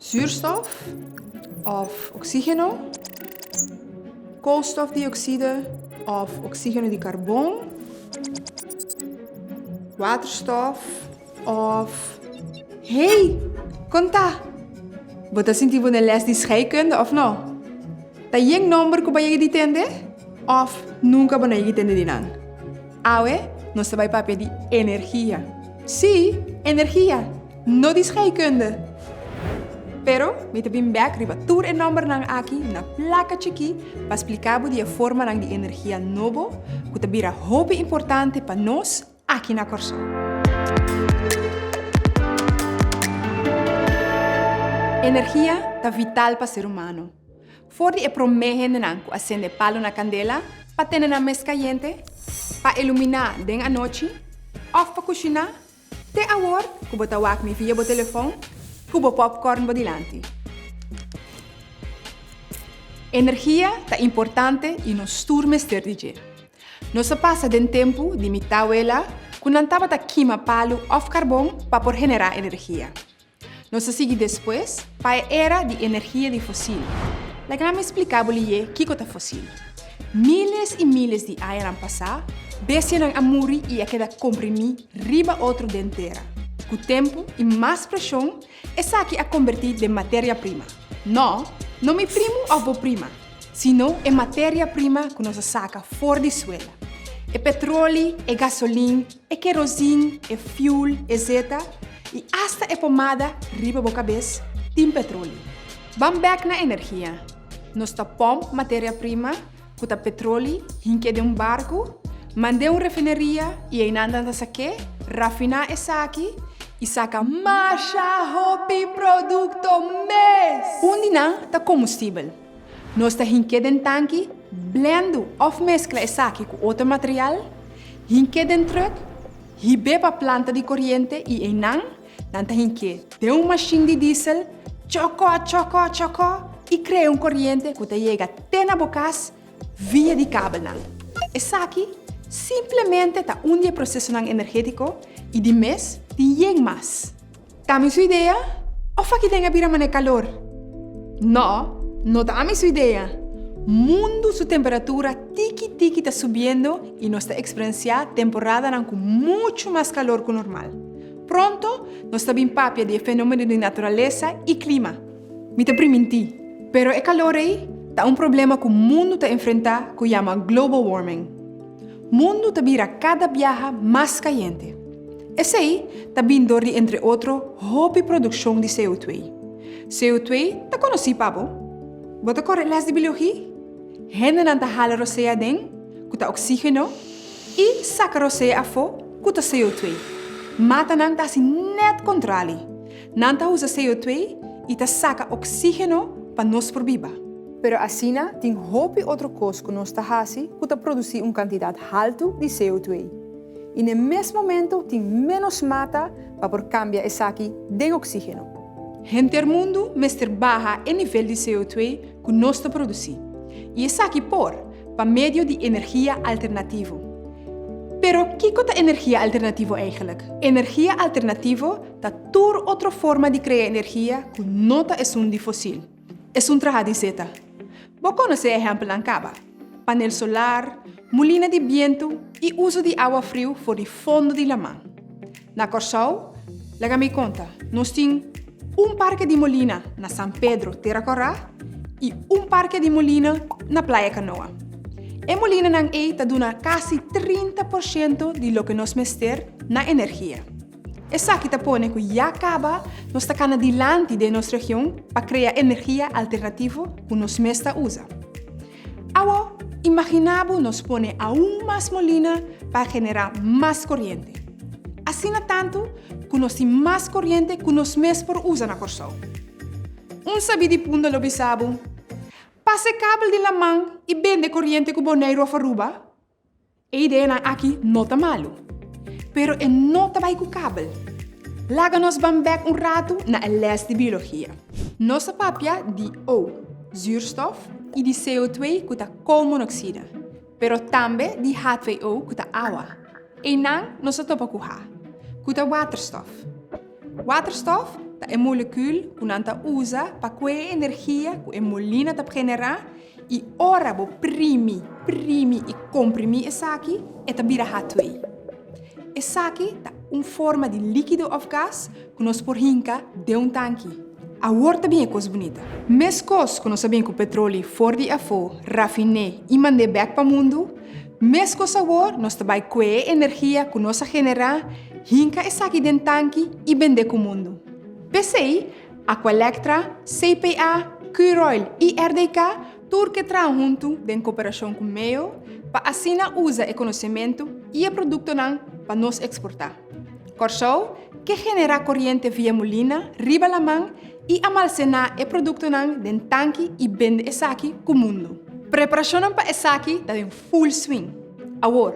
Zuurstof òf oksígeno, koolstofdiokside òf oksígeno di karbon, waterstòf òf. Hey! Kon ta? Bo ta sinti bo den lès di scheikunde, òf no? Ta yen nòmber ku bo a yega di tende? Òf nunka bo no a yega di tende di nan? Awe nos ta bai papia di energia. Sí, energia! No di scheikunde, pero mi ta bin bek riba tur e nòmbernan aki na plaka chikí pa splika bo di e formanan di energia nobo ku ta bira hopi importante pa nos aki na Kòrsou. Energia ta vital pa ser humano. For di e promé hendenan ku a sende palu na kandela pa tene nan mes kayente, pa iluminá den anochi òf pa kushiná, Te awor ku bo ta wak mi via bo telefon ku bo popcorn bo dilanti. Energia ta importante i nos tur mester di dje. Nos a pasa den tempu di mi tawela ku nan tabata kima palu òf karbon pa por generá energia. Nos a sigui despues pa e era di energia di fosil. Laga mi spliká bo liye kiko ta fosil. Míles i míles di añanan pasá, bestianan a muri i a keda komprimí riba otro den tera. Ku tempu i mas preshon, esaki a kombertí den materia prima. Nò, no mi primu òf bo prima, sino e materia prima ku nos a saka for di suela. E petroli, e gasolin, e kerosin, e fuel, etc. I asta e pomada riba bo kabes tin petroli. Ban bek na energia. Nos ta pomp materia prima, ku ta petroli, hink'é den un barku, mand'é un refineria i einan nan ta sak'é, rafiná esaki i saka masha hopi produkto mes! Un di nan ta kombustibel. Nos ta hink'é den tanki, blendu òf meskla esaki ku otro material, hink'é den trùk, hib'é pa planta di koriente i einan nan ta hink'é den un mashin di diesel chòkò chòkò chòkò i krea un koriente ku ta yega te na bo kas via di kabelnan. Esaki simplemente ta un di e prosesonan energétiko i di mes tin yen mas. Ta mi su idea o faki den a bira mane kalor? No, no ta ami su idea. Mundu su temperatura tiki tiki ta subiendo y nos ta experenciá temporadanan cu mucho mas calor cu normal. Pronto nos ta bin papia di e fenomeno di naturalesa y clima. Mi ta priminti, pero e calor ei ta un problema cu mundu ta enfrenta cu yama global warming. Mundu ta bira kada biaha mas kayente. Esei ta bin dor di entre otro hopi produkshon di CO2. CO2 ta konosí pa bo? Bo ta kore lès di biologi? Hendenan ta hala rosé aden, ku ta oksígeno, i saka rosé afó, ku ta CO2. Matanan ta hasi nèt kontrali. Nan ta usa CO 2 y ta saca oxigeno pa nos por biba. Pero asina tin hopi otro cos cu nos ta haci cu ta produci un cantidad halto di CO 2. Y n'e mes momento tin menos mata pa por cambia esaki den oxigeno. Henter mundo mester baha e nivel di CO 2 cu nos ta produci. Y esaki por pa medio di energia alternativo. Pero kico ta energia alternativo eigenlik? Energia alternativo Ta tur otro forma di krea energia ku no ta esun di fosil. Esun traha di seta. Bo konosé ehèmpelnan kaba, panel solar, mulina di bientu i uso di awa friu for di fondo di laman. Na Kòrsou, laga mi konta, nos tin un parke di molina na San Pedro, Tera Kòrá, i un parke di molina na Playa Kanoa. E molinanan ei ta duna kasi trinta por shento di loke nos mester na energia. Esaki ta pone cu ya caba nos ta cana dilanti den nos region pa crea energia alternativo cu nos mes ta uza. Awo, imagina bo nos pone aun mas molina pa genera mas coriente. Asina tantu cu nos tin mas coriente cu nos mes por uza na Corsou. Un sabi di punto lo bisa bo, Pasa e kabel den laman y bende coriente cu Boneiru of Aruba? E ideanan aki no ta malu, pero e no ta bai ku kabel. Laga nos ban bèk un ratu na e lès di biologia. Nos a papia di O, zuurstof, i di CO2, ku ta koolmonoksida, pero tambe di H2O, ku ta awa. Einan nos a topa ku H, ku ta waterstof. Waterstof ta e molekul ku nan ta usa pa kue e energia ku e molina ta pgenerá I ora bo primi, primi i komprimí esaki, e ta bira H2. Esaki ta un forma di líkido òf gas ku nos por hinka den un tanki. Awor ta bin e kos bunita. Meskos ku nos a bin ku petroli for di afó, rafiné i mand'é bèk pa mundu, meskos awor nos ta bai kue e energia ku nos a generá, hinka esaki den tanki i bend'é ku mundu. P'esei, Aqualectra, CPA, Curoil y RDK tur ke traha huntu den cooperacion cu MEO pa asina uza e conocemento y e productonan pa nos exporta. Corsou ke genera coriente via molina riba laman y amalcena e productonan den tanki y bende esaki cu mundo. Preparacionnan pa esaki ta den full swing awor.